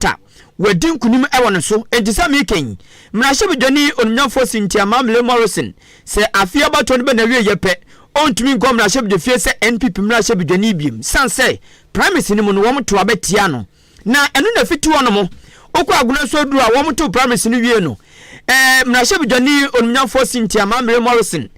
Tabitha, wɔadi nkonim wɔ no so. Enti sɛ mereka yi, mmarahyɛbadwani onimnyamfoɔ Cynthia Mamle Morrison sɛ afei abatoɔ no bɛ n'awieɛ pɛ, ɔntumi nkɔ mmarahyɛbadwafie sɛ NPP mmarahyɛbadwani biom sane sɛ primaries no mu no wɔn to aba tia no. Na ɛno na ɛfiti hɔ nom, wokɔ Agonanso aduru a wɔn to primaries no wie no, eh, mmarahyɛbadwani onimnyamfoɔ Cynthia Mamle Morrison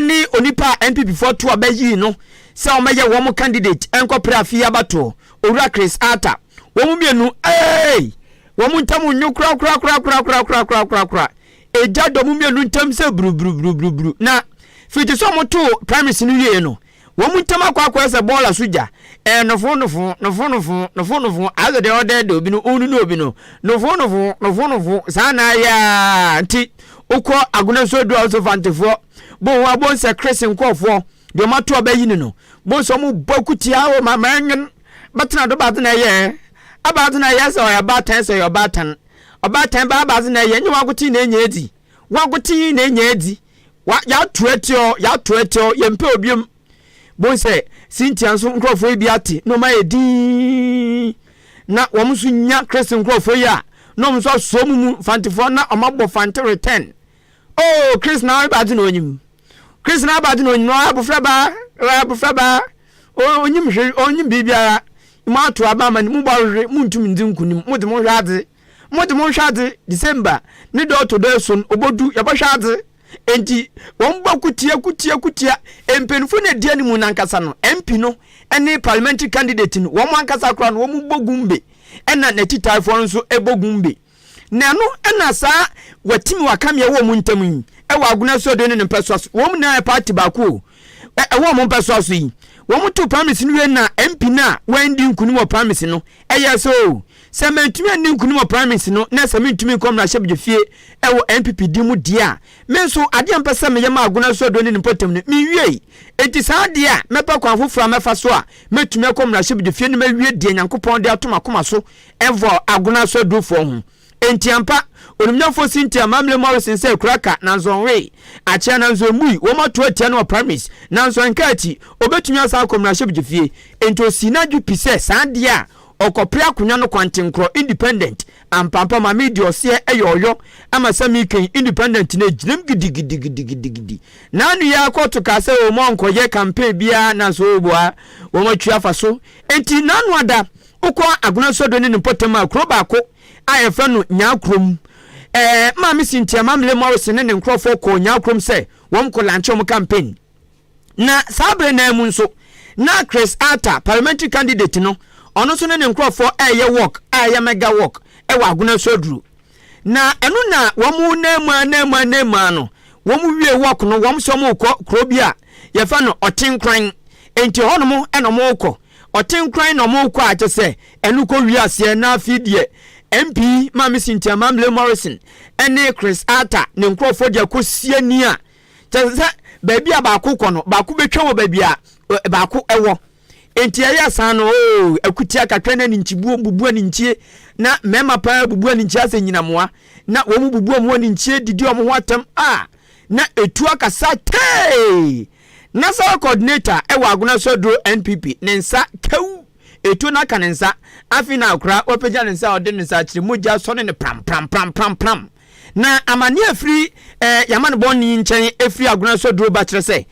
ne onipa a NPPfoɔ to aba yii no sɛ wɔn bɛyɛ wɔn candidate nkɔ pre afei abatoɔ. Owura Chris Arthur, wɔn mmienu, eei! Wɔn ntam nnwo korakorakorakorakorakorakorakorakorakoraa. Egya dɔ wɔn mmienu ntam sɛ brubrubrubrubru. Na firi te sɛ wɔtoo Primaries no wieeɛ no, wɔn ntam akɔ akɔyɛ sɛ bɔɔla so gya. Ɛɛ nofoo nofoo, nofoo nofoo, nofoo nofoo, aze deɛ ɔɔdɛɛdɛ obi no, ɔɔnunu obi no, nofoo nofoo, nofoo nofoo, saa na ayɛ aa nti wokɔ Agona nsuo aduru a wosɛ Fantefoɔ, Boho abonsɛ Chris nkorɔfoɔ, deɛ wɔato abɛyi no no, Bohu sɛ wɔbɔ akutia o ma manwen bɛtena do badze na ɛyɛ abadze na ɛyɛ sɛ ɔyɛ ɔbaatan sɛ ɔyɛ ɔbaatan ɔbaatan bɛ abadze na ɛyɛ nyɛ wagoten na enya edzi wagoten na enya edzi wa yɛato atiɔ yɛato atiɔ yɛmpɛ obiom bohu sɛ Cynthia nso nkurɔfoɔ yi bi ate na wɔn ayɛ dinn na wɔn nso nya Christ nkurɔfoɔ yi a na wɔn nso asɔ wɔn mu fantefoɔ na wɔn abɔ fante return oh Christ na abadze na onyim. Christ na aba adwene onyim ɔyɛ abofraba ɔyɛ abofraba onyim hwee onyim biribiara mo ato aba ama ne mo bɔ hwehwe mo ntum ndzi nkunim mo de mo hwɛ adze mo de mo hwɛ adze December ne dɔ ɔtɔ do esuon obodu yɛbɔhwɛ adze enti wɔn bɔ kutia kutia kutia mpanyinfo na edua ne mu nankasa no MP no ɛne parliamentary candidate no wɔn ankasa koraa no wɔn bɔ gumbe ɛna n'atitaefoɔ no nso bɔ gumbe. Na ɛno na saa watimi wakame ɛwɔ ɔmo ntam yi, ɛwɔ Agona asuadan ne ne mpɛsoa so, wɔn nyinaa yɛ party baako o, ɛwɔ ɔmo mpɛsoa so yi. Wɔn too primaries no wiei na MP no a wandi nkunim wɔ primaries no ɛyɛɛ sɛ oo, sɛ mantumi anni nkunim wɔ primaries no na sɛ mentumi nkɔ mmarahyɛbedwafie ɛwɔ NPP din mu deɛ a, me nso adeɛ a mepɛ sɛ meyɛ ma Agona asuadan ne ne mpɔtam no menwiei. Enti saa adeɛ a mɛpɛ kwan foforɔ a mɛfa so a mɛtumi akɔ mmarahyɛbedwafie na mawie deɛ Nyankopɔn de ato m'akoma so Ɛwɔ Agona so adurofoɔ ho. Enti ampa, onimnyamfoɔ Cynthia Mamle Morrison sɛ kura ka, nanso ɔnwee. Akyea nanso emmui. Wɔn ato atia no wɔ Paris, nanso ɛnkaa akyi. Obetumi asan akɔ mmarahyɛbedwafie. Enti osii n'adwe pi sɛ saa adeɛ a ɔkɔpere akonnwa no kwantenkorɔ, Independent, ampaampa ma me de ɔseɛ ɛyɛ ɔyɔ ama sɛ me kan Independent no agyinam gidigidigidigidigidi. N'ano yi ara kɔɔto kaa sɛ oomma ɔnkɔyɛ campaign biara nanso oobua wɔn atwi afa so. Enti n'ano ada Wokɔ Agona Sodo ne ne mpɔtam a, kuro baako a yɛfrɛ no Nyaakrom. Ɛɛ, Maame Cynthia Mamle Morrison ne ne nkorɔfoɔ kɔɔ Nyaakrom sɛ wɔkɔ lankye wɔn campaign. Na saa bere no ara mu nso, na Chris Arthur, parliamentary candidate no, ɔno nso ne ne nkorɔfoɔ reyɛ walk a ɛyɛ mega walk wɔ Agona Sodro. Na ɛno na wɔn nam mu ara nam mu ara nam mu ara no, wɔn wiee walk no, wɔn nso wɔrekɔ kuro bi a yɛfrɛ no Ɔtenkoran. Enti ɛhɔnom na wɔrekɔ. Ɔte nkran na ɔmo kɔ a kyɛ sɛ ɛno kɔ wie aseɛ na afei deɛ MP Maame Cynthia Mamle Morrison ɛne Chris Arthur ne nkorɔfoɔ deɛ kɔ sie ni a kyɛ sɛ baabi a baako kɔ no baako bɛtwa wɔ baabi a baako ɛwɔ enti ɛyɛ saa no oo akutia kakra na anintibuo bubu anintie na mmarima paa bubu anintie asɛ nyinamoa na wɔn bubu wɔn anintie didi wɔn ho atɛm a na ɛtu akasa tee National coordinator wɔ Agona Soduro NPP ne nsa kaw etuo no aka ne nsa, afei na akora wapagya ne nsa a ɔde ne nsa akyerɛ mu gya sɔ ne ne pram pram pram pram pram. Na amanneɛ a ɛfiri eh, Yamanebɔn yi nkyɛn ɛfiri Agona Soduro ba kyerɛ sɛ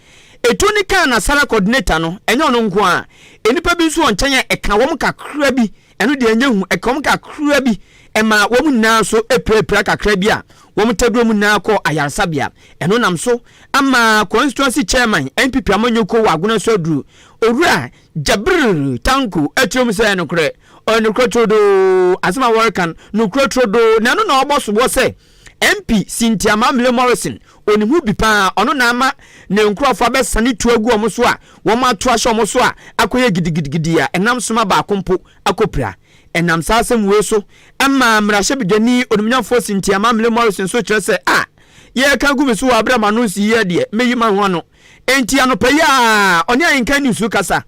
etuo no kaa Nasara coordinator no, ɛnyɛ ɔno nko ara, nnipa bi nso wɔ nkyɛn a ɛkaa wɔn kakra bi. Ɛno deɛ ɛnyɛ hu, ɛkaa wɔn kakra bi, ɛmaa wɔn nyinaa nso pirapira kakra bi a wɔn ta duro mu nyinaa kɔɔ ayaresabea. Ɛno nam so ama Constituency Chairman, NPP amanyɔkuo wɔ Agona so aduru, Owura Jabir Tanko atiri mu sɛ, Nokorɛ, ɔyɛ nokorɛ turodoo, asɛm a wɔreka no, nokorɛ turodoo, na ɛno na wɔbɔ soboɔ sɛ, MP Cynthia Mamle Morrison, onim ho bi paa, ɔno na ama ne nkurɔfo abɛsane tu agu wɔn so a wɔato ahyɛ wɔn so a akɔyɛ gidigidigidi a ɛnam soma baako mpo akɔpira. Ɛnam saa asɛm wei so ma mmarahyɛbedwani onimnyafoɔ Cynthia Mamle Morrison so kyerɛ sɛ, a, yɛreka agu me so wɔ aberɛ a m'ano nsii yɛ deɛ, mɛyi m'ano ano. Enti anɔpa yi ara, ɔne Ahenka Nniso kasa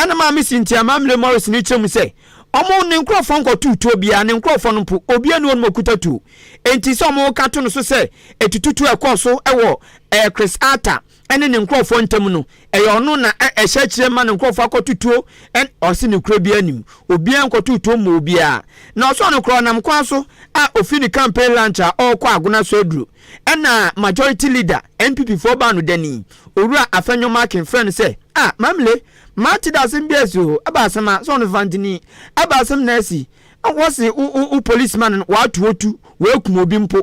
na Maame Cynthia Mamle Morris no kyerɛ mu sɛ, Wɔn, ne nkurɔfoɔ, nkɔtoo tuo biara, ne nkurɔfoɔ no mpo, obiara nni hɔnom a ɔkuta tuo. Enti sɛ wɔka to no so sɛ atututuo a ɛkɔɔ so wɔ ɛɛ Chris Arthur ne ne nkurɔfoɔ ntam no, ɛyɛ ɔno na ɛ ɛhyɛ akyire ma ne nkurɔfoɔ akɔto tuo ɛ Ɔse nokorɛ biara nnim, obiara nkɔtoo tuo mmaa obiara. Na ɔsɔɔ no koraa ɔnam kwan so a ɔfiri ne campaign lunch a ɔrekɔ Agona so aduro. Ɛna Majority Leader, NPP foɔ baanodani, Owura Afenyo Markin frɛ no sɛ, Ah, Mamle, mate dɛ asem bi asi o, ɛba asem a, sɛ ɔno Fantini, ɛba asem na asi, wɔse wo wo wo policeman no wɔato otu, wɔakum obi mpo.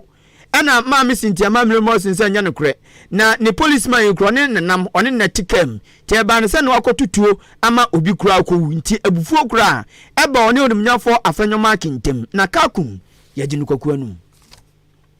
Ɛna Maame Cynthia Mamle Morrison sɛ ɛnyɛ nokorɛ, na ne policeman yi koraa ɔne no na nam, ɔne no na ɛte kaa mu, nti ɛbaa no sɛ na wakɔto tuo ama obi koraa akɔwu, nti abufuo koraa ɛbaa ɔne Onimnyafɔɔ Afenyo Markin ntam, na Kakum, yɛgye no kwaku anum.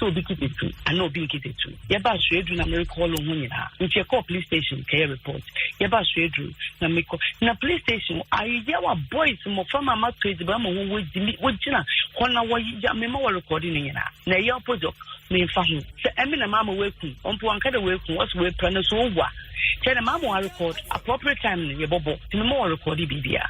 sɛ obi kete tu anaa obi nkete tu yɛba asoɛduru na merekɔɔlo ho nyinaa nti yɛkɔɔ police station kɛyɛ report yɛba asoɛduru na mekɔ na police station ayeyɛ wa boys mmɔfra ma mato adziban ma ho wɔgyimi wɔgyina hɔ na wɔyɛ mema wɔrekɔɔde no nyinaa na ɛyɛ opposite memfa ho sɛ ɛme na maama wɔaku ɔmpo wanka dɛ wɔaku wɔsɛ wɔapira no so ɔwu a kyɛ dɛ maama wɔarekɔɔd appropriate time no yɛbɔbɔ nti mema wɔrekɔɔde biribia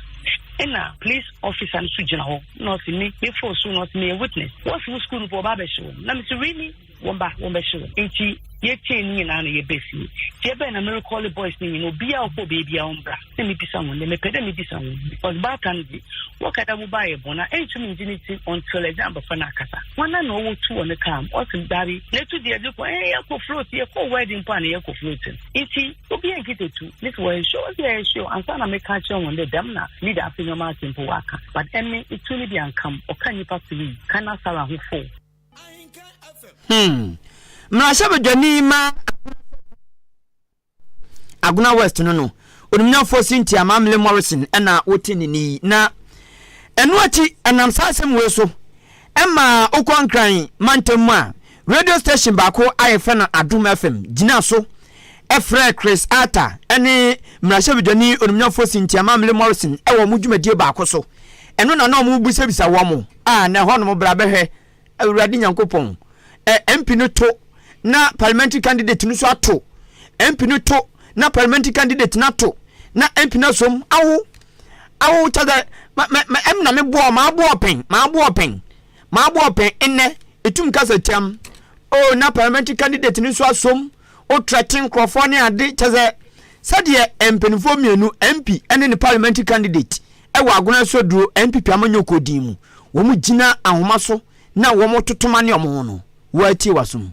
ɛna police officer no so gyina hɔ na ɔse me me fo so na ɔse meyɛ witness wɔse wo school no po ɔba abɛhye wo na mese really wɔn ba wɔn bɛhye wo nti yɛkyɛn ne nyinaa na yɛbɛ fie nti ɛbɛn na merekɔle boys ne nyina obiaa ɔkɔ beebia ɔmbra na mebisa wɔn dɛ mepɛ dɛ mebisa wɔn because baata no de wɔka dɛ woba yɛ bɔn a ɛntum ngye ne ti until ɛgye abɔfra no akasa wɔna na ɔwɔ tu wɔ ne kaa mu ɔse dabi na ɛtu deɛ de kɔ ɛɛ yɛkɔ float yɛkɔ wedding mpo a na yɛkɔ float nti Obi enki tetu, me se wɔahwe, wɔse yɛahwe o, ansa na meka akyerɛ hɔn dɛ dɛm na leader afe nyɔma ase mpo wɔaka, but emi etu no bi annka m', ɔka nyimpa tserii, kan na Sarah ho fool. Hmm. Mmarahyɛbadwani ma Agona West no no, onimnyamfoɔ Cynthia Mamle Morrison na wote ne ni na ɛno akyi ɛnam saa asɛm wei so Ɛma wokɔ Nkran mantam mu a, radio station baako a wɔfrɛ no Adom FM gyinaa so frɛɛ Chris Arthur ne mmarahyɛbadwani onimnyafoɔ Cynthia Mamle Morrison wɔ wɔn dwumadie baako so. Ɛno na na wɔbisabisa wɔn a na ɛhɔnom bra bɛhwɛ Awurade Nyankopɔn. Ɛ, MP no to na parliamentary candidate no nso ato. MP no to na parliamentary candidate no ato na MP no asom awo. Awo kyɛ dɛ ma ma ma emi na me bɔɔ ma aboɔ pɛn ma aboɔ pɛn ma aboɔ pɛn nnɛ etum kasa tia m oh na parliamentary candidate no so asom o threaten nkorɔfoɔ ne ade kyɛ sɛ sɛdeɛ eh mpaninfoɔ mmienu MP ɛne ne parliamentary candidate ɛwɔ agona so aduro NPP amanyɔkuo din mu wɔn gyina ahoma so na wɔn totoma ne wɔn ho no woa tie w'asom.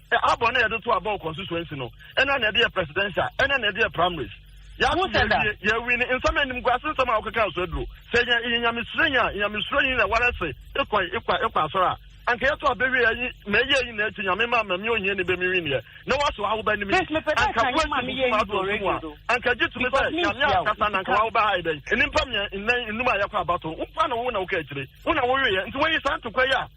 Abɔ na yɛde to abɔ wɔ constituency no ɛna na yɛde yɛ presidential ɛna na yɛde yɛ primaries yɛato yɛwie yɛawi ne nsɛm anim gu ase nsɛm a wɔkeka nso aduro sɛ yɛ yɛ nyamesuro yi a nyamesuro yi na wɔrɛ se ekɔ ekɔ ekɔ asɔrɔ a anka yɛto abɛwie ayi na ɛyɛ ayi na akyi nyame ma mami ohia ni bɛmi wi neɛ na wɔaso ahoba anim yi anka wɔasi busu ato ɔso mu a anka gye tumi sɛ nyame akasa na anka wɔahoba ha yi dɛn nnipa mmiɛ nnan nnum a yɛkɔ abato wo pa na wo na woka akyire wo na woweɛ nti wɔyi saa ntokwa yi a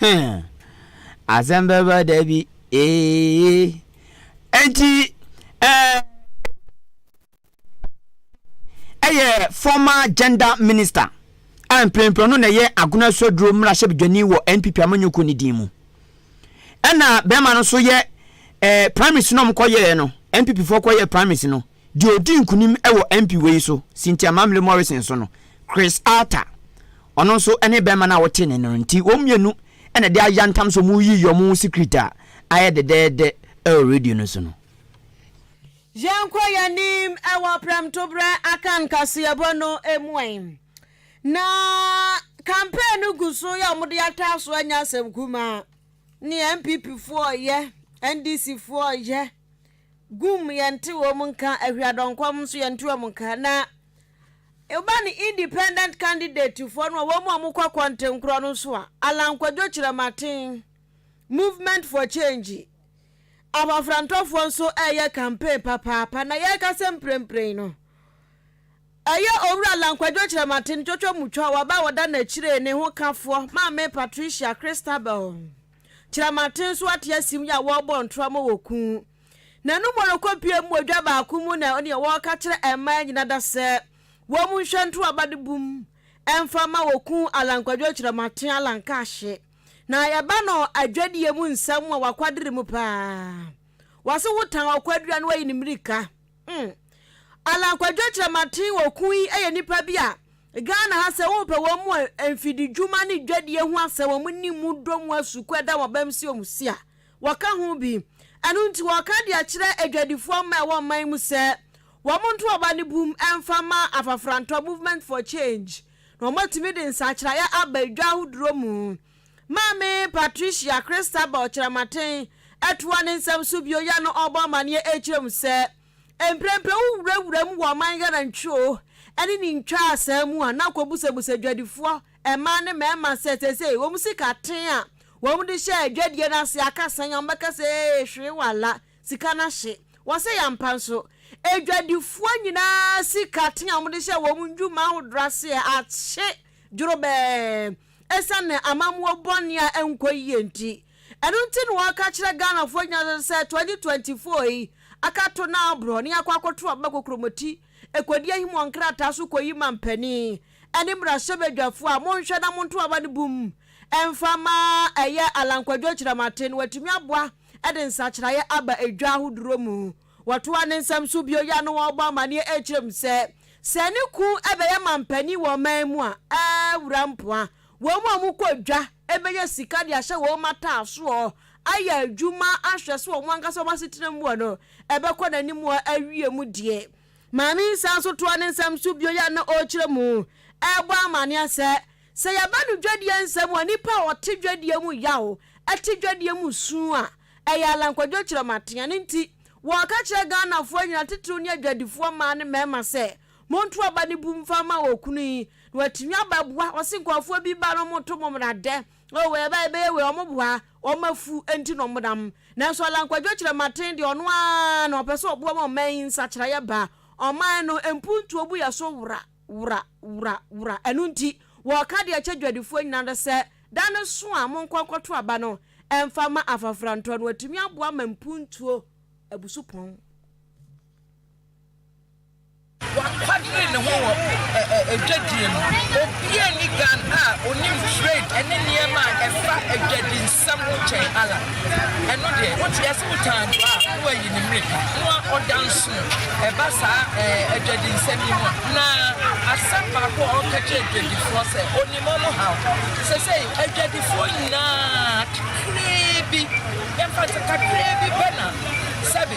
Heh, asɛm bɛba da bi, ee. Enti, eh, ɛyɛ former gender minister a mprempren no na ɛyɛ Agona Suaduro mmarahyɛbadwani wɔ NPP amanyɔkuo no din mu. Ɛna bɛrima no nso yɛ eh, primaries no a wɔkɔyɛɛ no, NPP foɔ kɔyɛɛ primaries no, deɛ ɔdi nkunim wɔ MP wei so, Cynthia Mamle Morrison so no. Chris Arthur, ɔno nso ne bɛrima no a wɔtee ne nne no nti, wɔn mmienu na ɛde ayɛ ntam sɛ wɔreyiyi wɔn ho secret a ayɛ dɛdɛɛdɛ wɔ radio no so no. Yɛnkɔ yɛn anim wɔ prɛmtoberɛ Akan kaseɛbɔ no mu ɛ. Na campaign no gu so yɛ wɔn de ataa so anya asɛm kumaa ne NPP foɔ yɛ, NDC foɔ yɛ, gum yɛnte wɔn nka, Ahiadɔnkɔm nso yɛnte wɔn nka na. Eba ne Independent candidatefoɔ no a wɔn a wɔkɔ kɔntenkorɔ no nso a, Allan Kwadwo Kyerɛmaten, Movement for Change, Abafrantɔfoɔ nso reyɛ campaign papaapa na yɛrekasa mprempren no, ɛyɛ Owura Allan Kwadwo Kyerɛmaten twɔtwɔmutwa a waba a wɔda n'akyire ne ho kafoɔ, Maame Patricia Christabel Kyerɛmaten nso ate asim yi a wɔrebɔ ntorɔmo wɔ Ku. Na no mu rekɔpue mu odwa baako mu na ɔne wɔreka kyerɛ mmaa nyina da sɛ wɔm nhwɛ nto aba no bum mfa ma wɔ ku Alan Kwadwo Kyerɛmaten Alan Kaahye na yɛba no adwadie mu nsɛm a wakwadere mu paa wase wo tan ɔkwadua no wayi ne mmirika mm Alan Kwadwo Kyerɛmaten wɔ ku yi yɛ nipa bi a Ghana ha sɛ wo pɛ wɔn mu a mfididwuma ne dwadie ho asɛ wɔn ni mu dɔ mu asuku ɛda wɔn bɛm si wɔn si a Wɔka ho bi. Ɛno nti wɔreka de akyerɛ adwadifoɔ mma a ɛwɔ ɔman mu sɛ wɔnto ɔba no bum mfa mma Afafrantɔ Movement for Change na wɔatumi de nsakyeraeɛ aba dwa ahodoɔ mu. Maame Patricia Christabel Kyerematen toa ne nsɛm so bio yɛ no ɔrebɔ amaneɛ rekyerɛ mu sɛ, Mprempren wowurawura mu wɔ ɔman Ghana ntwoo ne ne ntwaa saa mu a na kɔbusabusa adwadifoɔ Mmaa ne mmarima sɛ seesei wɔn sika tee a wɔde hyɛɛ dwadie no ase aka sɛn a wɔbɛka sɛ ee hwee wala, sika no ahye. Wɔsɛe ampa nso. Adwadifoɔ nyinaa sika tee a wɔde hyɛɛ wɔn dwuma ahodoɔ ase ɛ ahye dworobɛɛ ɛsiane amammuo bɔne a ɛnkɔ yie nti. Ɛno nti na wɔka kyerɛ Ghanafoɔ nyinaa sɛ 2024 yi akato no aborɔ na yɛakɔ akɔto aba kokromoti ɛkɔdi ahim wɔ nkrataa so kɔyi mampanin. ɛne mmarahyɛbadwafoɔ a monhwɛ na monto aba no bum mfa ma ɛyɛ Allan Kwadwo Akyerɛmate no watumi aboa de nsakyeraeɛ aba edwa ahodoɔ mu. Wɔtoa ne nsɛm so bio yɛ ano wɔrebɔ amaneɛ rekyerɛ mu sɛ, sɛ ne ku bɛyɛ manpanin wɔ ɔman mu a, awura mpoa wɔn a wɔkɔ dwa bɛnya sika de ahyɛ wɔn mataasoɔ, ayɛ adwuma ahwɛ sɛ wɔn ankasa wɔn asetena mu wɔ no ɛbɛkɔ n'anim wɔ awie mu deɛ. Maame yi san nso toa ne nsɛm so bio yi a na ɔrekyerɛ mu rebɔ amanneɛ sɛ, Sɛ yɛba no dwadie nsɛm a nnipa a wɔte dwadie mu yaw, te dwadie mu su a, ɛyɛ alankwadwo kyerɛmaten. Ɛno nti, wɔka kyerɛ Ghanafoɔ nyinaa, titiriw ne adwadifoɔ mmaa ne mmarima sɛ, Monto aba no bu mfa mma okunu yi na watumi abɛboa. Wɔse nkurɔfoɔ bi ba no, wɔto mo mmara dɛ. Oh wei ɛbɛyɛ bɛyɛ wei ɔmo boa ɔmo afu ɛnti na ɔmo nam nanso Alan Kwadwo Kyerɛmaten deɛ ɔno ara na ɔpɛ sɛ ɔboa ma ɔman yi nsakyeraeɛ ba ɔman no mpuntuo bu yɛ so wora wora wora wora ɛno nti wɔka deɛ ɛkyɛ dwadifoɔ nyinaa no sɛ da no so a monkɔ nkɔto aba no ɛmfa ma afafrantɔ no atumi aboa ma mpuntuo abu so pɔn. Wakwadiri ne ho wɔ adwadie mu. Obia nni Ghan a onim trade ɛne nneɛma a ɛfa adwadi nsɛm ho kyɛn Allan. Ɛno deɛ, wote yɛse wo taa adwoa a, na wayi ne mmirika, na wa ɔda nsono ɛba saa adwadi nsɛm yi ho. Na asɛm baako a ɔka kyerɛ adwadifoɔ sɛ onim wɔn haw. Sɛsɛi adwadifoɔ nyinaa, kakraa bi, yɛmfa no sɛ kakraa bi pɛ na sɛbe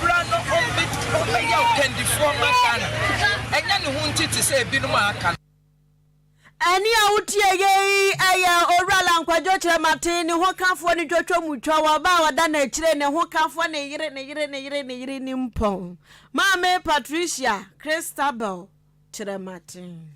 Bra na ɔmmɛyɛ ɔkandifoɔ mma Ghana. Ɛnyɛ ne ho nti te sɛ ebinom a aka no. Ɛnne a wotie yei yɛ Owura Lankwadwo Kyerɛmaten ne ho kafoɔ no twotwo mu twɔ wɔ ba a ɔda n'akyire ne ho kafoɔ ne yere ne yere ne yere ne yere nimpɔn, Maame Patricia Christabel kyerɛ maten.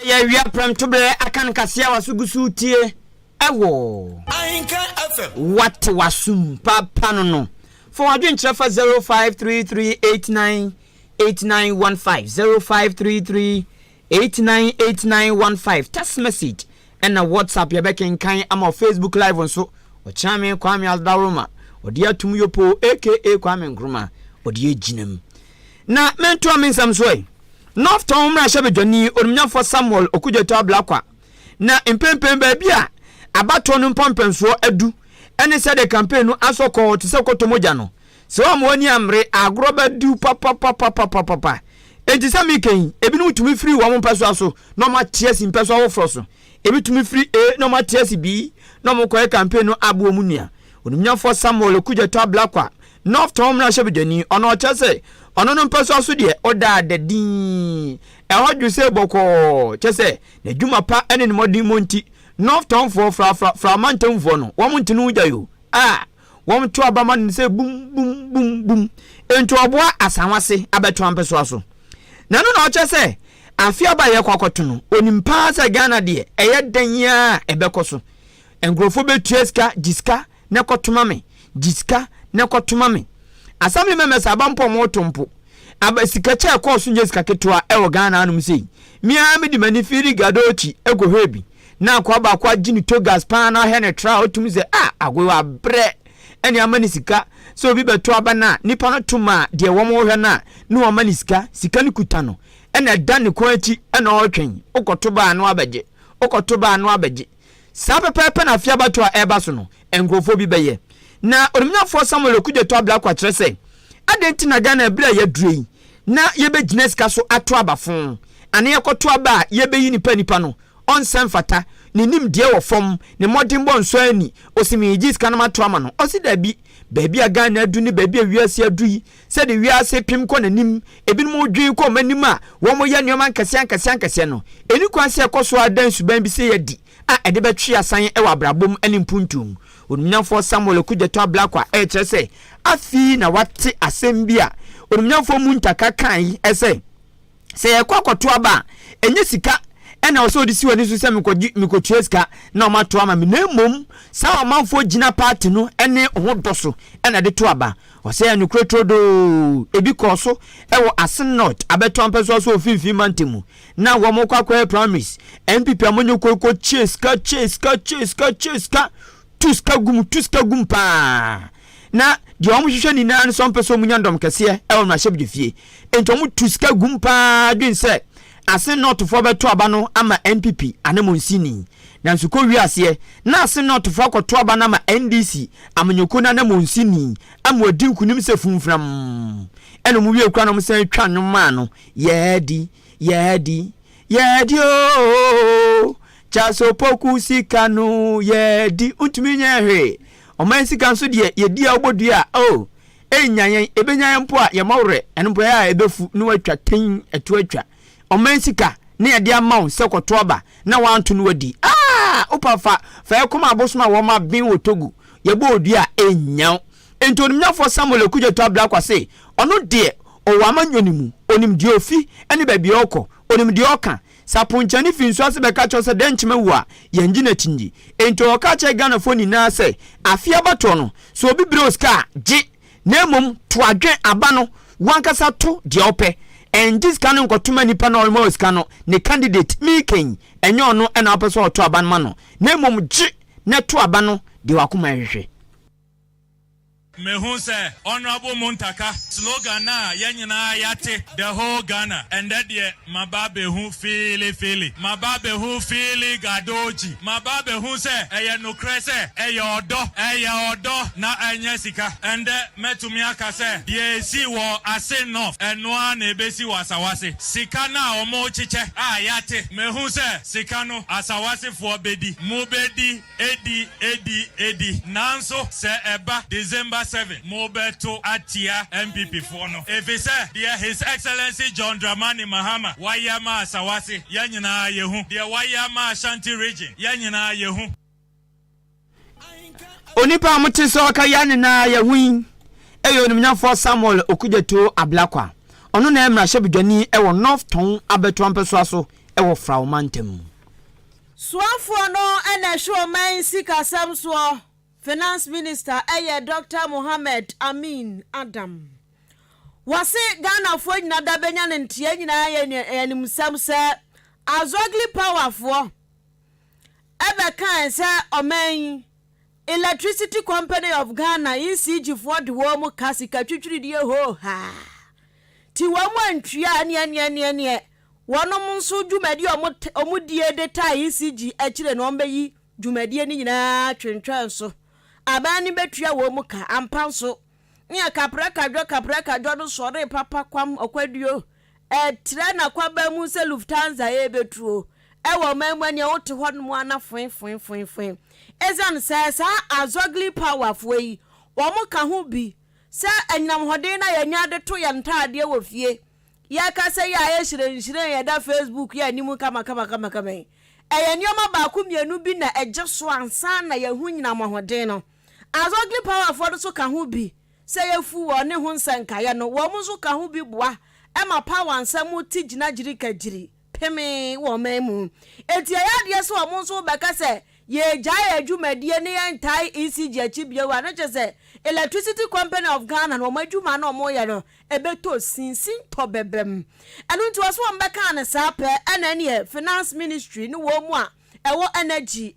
Ɛyɛ awia prɛmtoberɛ aka nkasɛɛ a w'aso gu so retie wɔ. Ahenka FM. Wate w'asom papa no no. Fa w'adwene kyerɛ fa 0533898915, 0533898915, text message ɛna WhatsApp yɛbɛkenkan ama wɔ Facebook live nso. Ɔkyerɛme Kwame Asdaworoma, ɔde atom Yopo aka Kwame Nkrumah, ɔde agyinam. Na mentoa me nsɛm so ɛ. Northtown mmarahyɛbadwani onimnyamfoɔ Samuel Okudzeto Ablakwa, Na mprempren baabi a abatoɔ no mpɔmpɛnsoɔ adu ne sɛdeɛ campaign no asɔ kɔɔ te sɛ kɔtɔ mogya no, sɛ wɔamma wɔn ani ammere a agorɔ bɛdwo papapapapapapa. Enti sɛ mereka yi, ebinom tumi firi wɔn mpɛsoa so na wɔate asi mpɛsoa foforɔ so. Ebi tumi firi A na wɔate asi B na wɔkɔyɛ campaign no aboɔ mu nua. Onimnyamfoɔ Samuel Okudzeto Ablakwa North Tɔn mmarahyɛbedwani, ɔno ɔkyɛ sɛ ɔno no mpɛsoa so deɛ ɔda ada dinn, ɛhɔ dwo sɛ bɔkɔɔ, kyɛ sɛ n'adwuma pa ne ne mmɔdemmɔ nti, North Tɔn foɔ fra fra fra amantamfoɔ no, wɔn nte no gya yoo, a wɔn to aba ma no no sɛ bum bum bum bum, nti ɔboa Asawase abɛtoa mpɛsoa so. Na ɛno na ɔkyɛ sɛ afe aba a yɛkɔ akɔto no, ɔnim paa sɛ Ghana deɛ ɛyɛ dɛn ara a ɛbɛkɔ so, nkorɔfoɔ bɛtua sika, gye sika, ne kɔ toma me gye sika ne kɔ toma me assembly members aba mpo ɔmo to mpo aba sika kyɛ ɛkɔɔ so nyɛ sika ketewa ɛwɔ Ghana anom sei me ara me de m'ani firi gado akyi ɛkɔ hwɛ bi na akoa baako agye ne togas paa na ɔhwɛ ne tra a ɔtum sɛ ah agoe wa brɛ ɛne ama ne sika sɛ obi bɛto aba no a nipa no to ma deɛ wɔn hwɛ no a ne wɔn ama ne sika sika no kuta no ɛna ɛda ne kɔn akyi ɛna ɔretwɛn wokɔto baa no abɛgye wokɔto baa no abɛgye Saa pɛpɛɛpɛ na afe abatoɔ a ɛreba so no nkorɔfoɔ bi bɛyɛ. Na Onimnyafoɔ Samuel Okudzeto Ablakwa kyerɛ sɛ, Adɛn nti na Ghana berɛ a yɛaduru yi na yɛbɛgyina sika so ato aba fõ, anaa yɛkɔto aba a yɛbɛyi nipa a nipa no ɔnsa mfata, ne nimdeɛ wɔ fam, ne mmɔdenbɔ nsɔ anni, ɔsi megyee sika nom ato ama no? Ɔse dabi, baabi a Ghana aduru ne baabi a wiase aduru yi, Sɛdeɛ wiase repem kɔ n'anim, ebinom dwene kɔ wɔn anim a wɔreyɛ nneɛma nkɛseɛ-ankɛseɛ-ankɛseɛ no, ɛnni kwan sɛ ɛkɔ so ara da nsuban bi sei adi a ɛde bɛtwe asan wɔ abrabɔ mu ne mpuntuo mu. Onimnyamfoɔ Samuel Okudzeto Ablakwa a ɛrekyerɛ sɛ afei na wate asɛm bi a onimnyamfoɔ Muntaka kaeɛ sɛ, sɛ yɛkɔ akɔto aba a, ɛnyɛ sika na ɔsɛ ɔde si w'ani so sɛ mekɔgye mekɔtua sika na wɔn ato ama me na mmom saa ɔmanfoɔ gyina paati no ne ho dɔ so na de to aba. Ɔsɛ yɛ nokorɛ turodoo. Ebi kɔɔ so wɔ Asin North abɛto ampɛsoa so wɔ Mfimfini Mantam mu na wɔn kɔ akɔyɛ primaries. NPP a monyɛ koi kɔkye sika kye sika kye sika kye sika tu sika gu mu tu sika gu mu paa. na deɛ wɔn hwehwɛ nyinaa no sɛ wɔn pɛ sɛ wɔn nya dɔm kɛseɛ ɛwɔ mmarahyɛbedwafie nti wɔn tu sika gum paa dwen sɛ asen nɔɔtofoɔ bɛto aba no ama npp anamonsini nanso kɔ wie aseɛ na asen nɔɔtofoɔ akɔto aba no ama ndc amanyɔkuo no anamonsini ama wɔdi nkunim sɛ funfunam ɛna wɔn wie kura na wɔn san twa nnwom maa no yɛɛdi yɛɛdi yɛɛdi ooo Charles Opoku sika no yɛɛdi ntumi nyɛ hwee. Ɔman sika nso deɛ yɛdi a wobɔ dua a oh Ɛnnya yɛn, ɛbɛnya yɛn mpo a yɛmmɔ werɛ Ɛno mpo ɛyɛ a ɛbɛfu na watwa tein ɛto atwa Ɔman sika na yɛde ama wo sɛ kɔto aba na woanto na wadi ah Wopa fa, fa ɛkɔma abosom a wɔma ben wɔ Togo Yɛbɔ wo dua a ɛnnya wo Enti onimnyafoɔ Samuel Okudzeto Ablakwa se ɔno deɛ ɔwɔ amanyɔne mu Ɔnim deɛ ɔfi ne baabi a ɔrekɔ Ɔnim deɛ ɔreka Sɛ aponkyɛne fi nsu ase bɛka kyerɛ wo sɛ dɛn nkyem awu a, yɛngye no akyinye. Enti ɔwɔ ka kyerɛ Ghanafoɔ nyinaa sɛ afe abatoɔ no, sɛ obi brɛ wo sika a, gye, na mmom to adwene aba no w'ankasa to deɛ wopɛ. Ɛngye sika no nkɔtoma nipa no a ɔrema wo sika no ne candidate, Mike yi, ɛnyɛ ɔno na wopɛ sɛ ɔto aba no ma no, na mmom gye na to aba no deɛ w'akoma ɛhwehwɛ. Mehu sɛ Honourable Muntaka slogan no a yɛn nyinaa yɛate, The whole Ghana, ɛndɛ deɛ maba abɛhu Feeli Feeli, maba abɛhu Feeli Gadoji, maba abɛhu sɛ ɛyɛ nokorɛ sɛ ɛyɛ ɔdɔ, ɛyɛ ɔdɔ na ɛnyɛ sika. Ɛndɛ mɛtumi aka sɛ deɛ ɛsii wɔ Assin North, ɛno ara na ɛbɛsi wɔ Asawase. Sika no a wɔrekyekyɛ a yɛate, mehu sɛ sika no Asawasefoɔ bɛdi, mobɛdi Adi, adi, adi. Nanso sɛ ɛba December seven, mobɛto atia NPP foɔ no. Efisɛ deɛ His Excellency John Dramani Mahama wayɛ ama Asawase, yɛn nyinaa yɛhu. Deɛ wayɛ ama Ashanti Region, yɛn nyinaa yɛhu. Onipa a mote sɛ ɔka yɛn nyinaa yɛhu yi yɛ Onimnyamfoɔ Samuel Okudzeto Ablakwa. Ɔno na ɛyɛ mmarahyɛbedwani wɔ North Tɔn abɛtoa mpɛsoa so wɔ Frawo Mantam mu. Soafoɔ no na ɛhwɛ ɔman sikasɛm soɔ, Finance Minister yɛ Dɔkta Mohammed Amin Adam. Wɔse Ghanafoɔ nyina da bɛnya no nteɛ nyinaa yɛ nea yɛnim sɛm sɛ Azogli Power foɔ bɛkae sɛ ɔman yi Electricity Company of Ghana, ECG, foɔ de wɔn ka sika twitwiridie hoohaa nti wɔn antua neɛneɛneɛneɛ Wɔnom nso dwumadi a wɔn die de taa ECG akyire no wɔbɛyi dwumadie no nyinaa atwentwɛn so. Aban no bɛtua wɔn ka ampa nso neɛ kaprakadwɔ kaprakadwɔ no sɔree papa kwam ɔkwaduo ɛtrɛ n'akwaban mu sɛ Lufthansa ɛrebɛtuo ɛwɔ ɔman mu ɛneɛ wote hɔ nom ana foe foe foe foe ɛsiane sɛ saa Azogli power foɔ yi wɔn ka ho bi sɛ anyinamhoden no a yɛnya de to yɛn ntaadeɛ wɔ fie Yɛn kasa yi a ayɛ hyerɛnhyerɛn a ɛda Facebook yi anim kamakamakama yi, ɛyɛ nneɛma baako mmienu bi na ɛgye so ansa na yɛahu nyina mmɔhoden no. As Ugly Powerfoɔ no nso ka ho bi sɛ yɛfu wɔn ne ho nsɛnkaeɛ no, wɔn nso ka ho bi boa ma Power nsɛm te gyinagyirikagyiri. pemee wɔ ɔman mu. Enti ɛyɛ adeɛ sɛ wɔn nso rebɛka sɛ yɛregyae yɛn dwumadie na yɛntae ECG akyi bio a, na kyerɛ sɛ Electricity Company of Ghana no wɔn adwuma no a wɔreyɛ no ɛbɛtɔ sin, sintɔ bɛbam. Ɛno nti wɔse wɔn bɛkaa no saa pɛ ɛna ɛneɛ Finance Ministry ne wɔn mu a ɛwɔ Energy,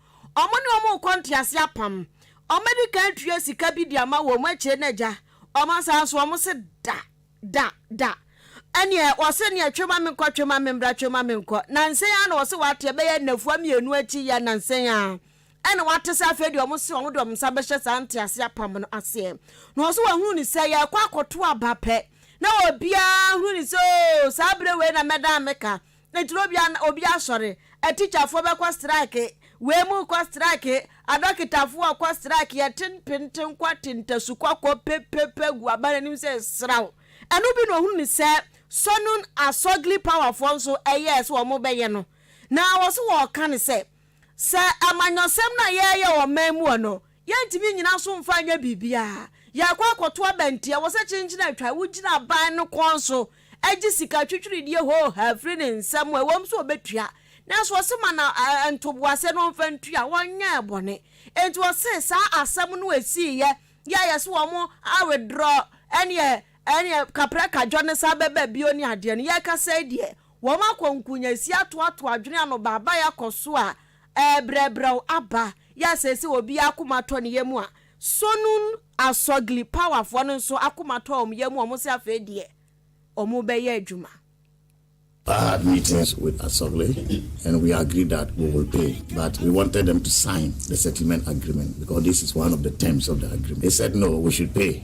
Wɔn ne wɔn rekɔ ntease apam. Wɔadi kan atua sika bi de ama wɔn akyire no agya. Wɔasan so wɔn se da, da, da. Ɛneɛ wɔse neɛ twe ma menkɔ, twe ma memmra, twe ma menkɔ. Nansa yi ara na wɔse wɔate ɛbɛyɛ nnafua mmienu akyi yi ara nansa yi ara ɛna wɔate sɛ afei deɛ wɔse wɔn de wɔn nsa bɛhyɛ saa ntease apam no aseɛ. Na wɔse wɔahunu no sɛ yɛrekɔ akɔto aba pɛ na obiara hunu no sɛ oo saa berɛ wei na mɛdan meka Ne turo bia na obi asɔre. Atikyafoɔ bɛkɔ strike, wei mu rekɔ strike, adɔketafoɔ rekɔ strike, yɛte ntenten kɔ te ntasu kɔkɔɔ pepepe gu aban anim sɛ sraw. Ɛno bi na ɔhunu no sɛ Sonun Asogli Powerfoɔ nso ɛyɛɛ sɛ wɔn bɛyɛ no. Na wɔso wɔreka no sɛ, sɛ amanyɔsɛm no a yɛreyɛ wɔ ɔman mu hɔ no, Yɛntumi nnyina so mfa nyɛ biribiara. Yɛrekɔ akɔto aba nti, ɛwɔ sɛ kyenkyen a atwa a wogyina aban no kɔn so gye sika twitwiridie hoohaa firi ne nsam a, ɛwom sɛ ɔbɛtua, nanso wɔse ma no ntoboaseɛ na ɔmfa ntua a, wɔnyɛɛ bɔne. Enti wɔse saa asɛm no a ɛsiiɛ yi a yɛse wɔn a withdraw ɛneɛ ɛneɛ kaprɛ kadwo no san bɛba bio ne adeɛ no, yɛrekasa yi deɛ, wɔn akɔ nkunyasie atoatoa adwene ano baabaeɛ akɔ so a, ɛɛbrɛbrɛw aba. Yɛ a seesei obiara akoma atɔ ne yam a, Sonun Asɔgli Powerfoɔ no nso akoma atɔ wɔn yam a wɔse afei deɛ wɔbɛyɛ adwuma. I had meetings with Asogli and we agreed that we will pay but we wanted them to sign the settlement agreement because this is one of the terms of the agreement. They said no, we should pay.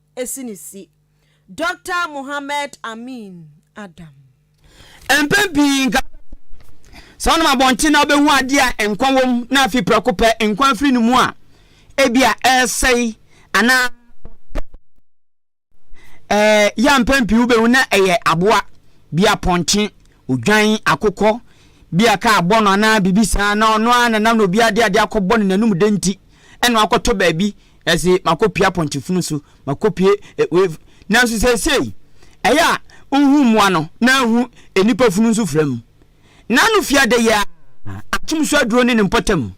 si ne si. Dɔkta Mohammed Amin Adam. Mpɛn pii nka wobɛkɔ saa ɔnam abɔnten na wobɛhu adeɛ a nkwa wom na afi prɛko pɛ nkwa afiri ne mu a ebi a ɛresɛe anaa ɛɛ yɛ mpɛn pii wobɛhu na ɛyɛ aboa bi apɔnkye odwan akokɔ bi a kaa bɔ no anaa biribi saa na ɔno ara na nam na obi ade ade akɔbɔ no n'anum de nti Ɛna makɔtɔ baabi ɛse makɔpia pɔnkye-funu so, makɔpie wave. Nanso seesei, ɛyɛ a nhu mmoa no na nhu nnipa funu nso fira mu. N'ano fi adɛyɛ ara, akyem so aduro ne ne mpɔtam.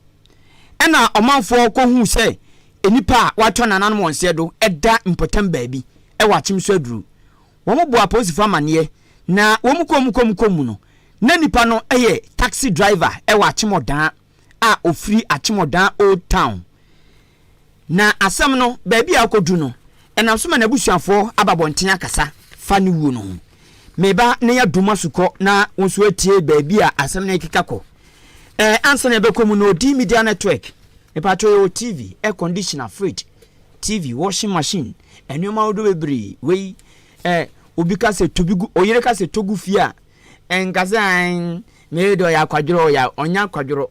Ɛna ɔmanfoɔ kɔhuu sɛ nnipa a wɔatwa nananom wɔn seɛ do da mpɔtam baabi wɔ akyem so aduro. Wɔn bɔɔ apolisifo amaneɛ na wɔn kɔɔ mu kɔɔ mu kɔɔ mu no, na nipa no yɛ taxi driver wɔ akyem ɔdaa. a ɔfiri Akyemɔdaa Old Town. Na asɛm no, baabi a akɔduru no, ɛnam so ma n'abusuafoɔ aba abɔnten akasa fa ne wuo no ho. Me ba na yɛ adom asukɔ na wo nso atie baabi a asɛm no rekeka kɔ. Ɛɛ, ansa na yɛbɛkɔ mu no, Odii Media Network, mepatwɔ yɛwɔ TV, air conditioner, fridge, TV, washing machine, nneɛma ahodoɔ bebree. Wei, ɛɛ, obi ka sɛ to bi gu, ɔyere ka sɛ to gu fie a, nka sɛ aen mei de ɔyɛ akwadworɔ ɔyɛ a ɔnyɛ akwadworɔ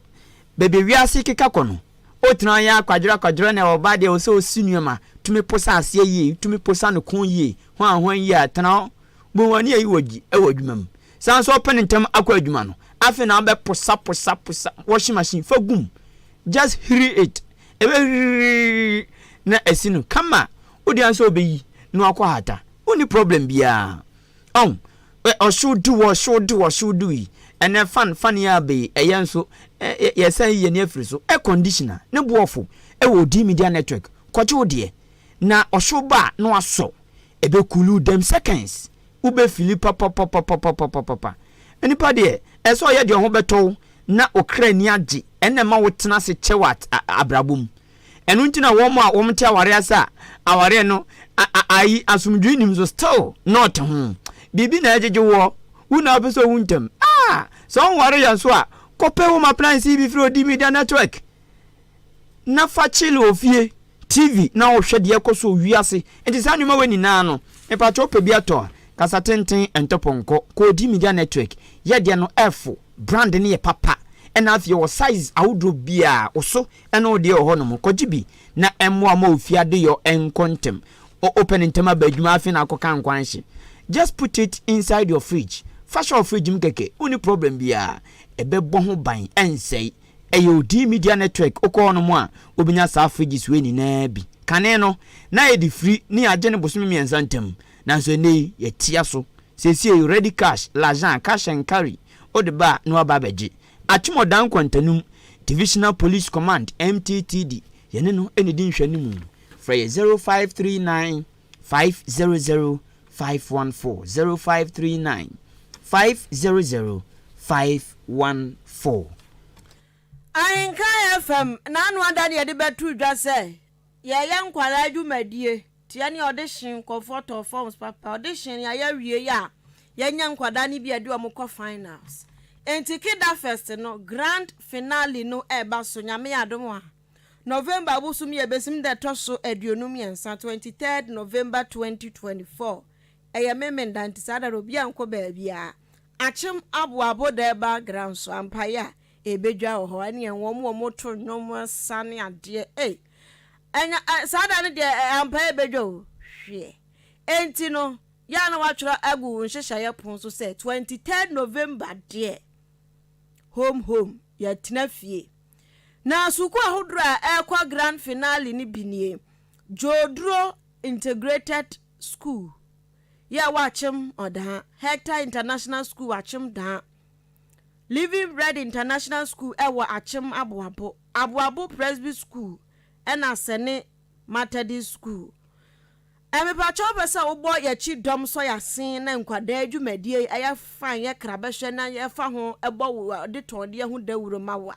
baabi wiase keka kɔ no wotena ɔyɛ akwadworɔ akwadworɔ na ɔba deɛ ɛwɔ sɛ ɔsi nneɛma tumi posa aseɛ yie wotumi posa no ko yie hwan hwan yie a tena hɔ bu wɔn ani ayi wɔ gyi ɛwɔ adwuma mu saa nso ɔpene ntɛm akɔ adwuma no afei na wobɛ posa posa posa washing machine fa gum just hiri it ɛbɛ hiri na asi no kama wode ansa ɔbɛyi na wakɔ hata wonni problem biara Ɔn, ɛ ɔhyew du wɔ hyew du wɔ hyew du yi, ɛnnɛ fan fan yi aba yi, ɛyɛ nso, ɛ ɛ yɛsan yi yɛn ani afiri so. Air conditioner, ne bo ɔfo wɔ Odii Media Network, kɔgye wo deɛ. Na ɔhyew ba a, na wasɔ, ɛbɛ cool wo dam seconds, wo bɛ fili papapapapapapapapa. Nipa deɛ, ɛsɛ sɛ ɔyɛ deɛ ɔho bɛtɔ wo na wo kra ani agye, ɛna ɛma wo tena ase kyɛw a a abrabɔ mu. Ɛno nti na wɔn a wɔte aware ase a awareɛ no ayi asomdwoe nim so still na ɔte ho. Biribi na ɛgyegye woɔ. Wo na wopɛ sɛ owu ntɛm. Ah! Sɛ wonware yɛ nso a, kɔpɛ home appliance bi firi Odi Media Network na fa chill wɔ fie. TV na wohwɛ deɛ ɛkɔ so wɔ wiase. Nti saa nneɛma wei nyinaa no, mepakyɛ wopɛ bi atɔ a, kasa tenten, ɛntɔ pɔnkɔ. Kɔ Odi Media Network. Yɛ deɛ no, ɛfo. Brand no yɛ papa na afei ɔwɔ size ahodoɔ biaa, wo so ne wo deɛ wɔ hɔ nom, kɔgye bi na mmoa mma wo fie adeyɔ nkɔ ntɛm, wopɛ no ntɛm aba adwuma afei na akɔ ka nkwanhye, just put it inside your fridge, fa hyɛ wo fridge mu kɛkɛ, wonni problem biaa, ɛbɛbɔ ho ban, ɛnsɛe. Ɛyɛ Odii Media Network, wokɔ hɔ nom a wobɛnya saa fridges wei nyinaa bi. Kane no, na yɛde firi ne yɛagye no bosome mmiɛnsa ntam, Nanso ɛnnɛ yi, yɛatia so. Seesei ready cash, lajan, cash and carry, wode ba a na wɔaba abɛgye. Atumɔdan nkwantanum, Divisional Police Command, MTTD, yɛne no na ɛdi nhwɛanimu. Frɛ yɛn 0539 500 514, 0539 500 514. Ahenkan FM na ano ada ne yɛde bɛto dwa sɛ Yɛyɛ nkwadaa dwumadie teɛ ne ɔde hyɛn comfort of forms papa ɔde hyɛn yɛ ayɛ wie yɛ a yɛnyɛ nkwadaa ne bi a ɛde wɔn kɔ finals nti keda first no grand finale no ɛba so nyame adom a November bosom yɛ besim da ɛtɔ so aduonu mmiɛnsa twenty third November twenty twenty four ɛyɛ me menda nti saa da no obi ankɔ baabi a akyem aboa aboda ɛba gran so ampaeɛ a Ebedwa wɔ hɔ ɛne wɔn a wɔto nnwom, nsa ne adeɛ. Ei! Ɛnyɛ, ɛ, saa da no deɛ, ɛ, ampa ebedwa o. Hwɛ! Enti no, yɛ a na wɔatwerɛ agu wo nhyehyɛeɛ pon so sɛ, 23rd November deɛ, home, home, yɛatena fie. Na sukuu ahodoɔ a ɛrekɔ grand finale no bi nie, Dwoduro Integrated School, yɛ a wɔakyem ɔdaa, Hector International School wɔakyem daa, Living Bread International School wɔ Akyem Aboabo, Aboabo Presby School na Sene Matadist School. Mepakyɛw wopɛ sɛ wobɔ yɛkyi dɔm sɔ yasen na nkwadaa dwumadie yɛ fine yɛ krabɛhwɛ na yɛfa ho bɔ wo de tɔn deɛ ho dawuro ma wo a.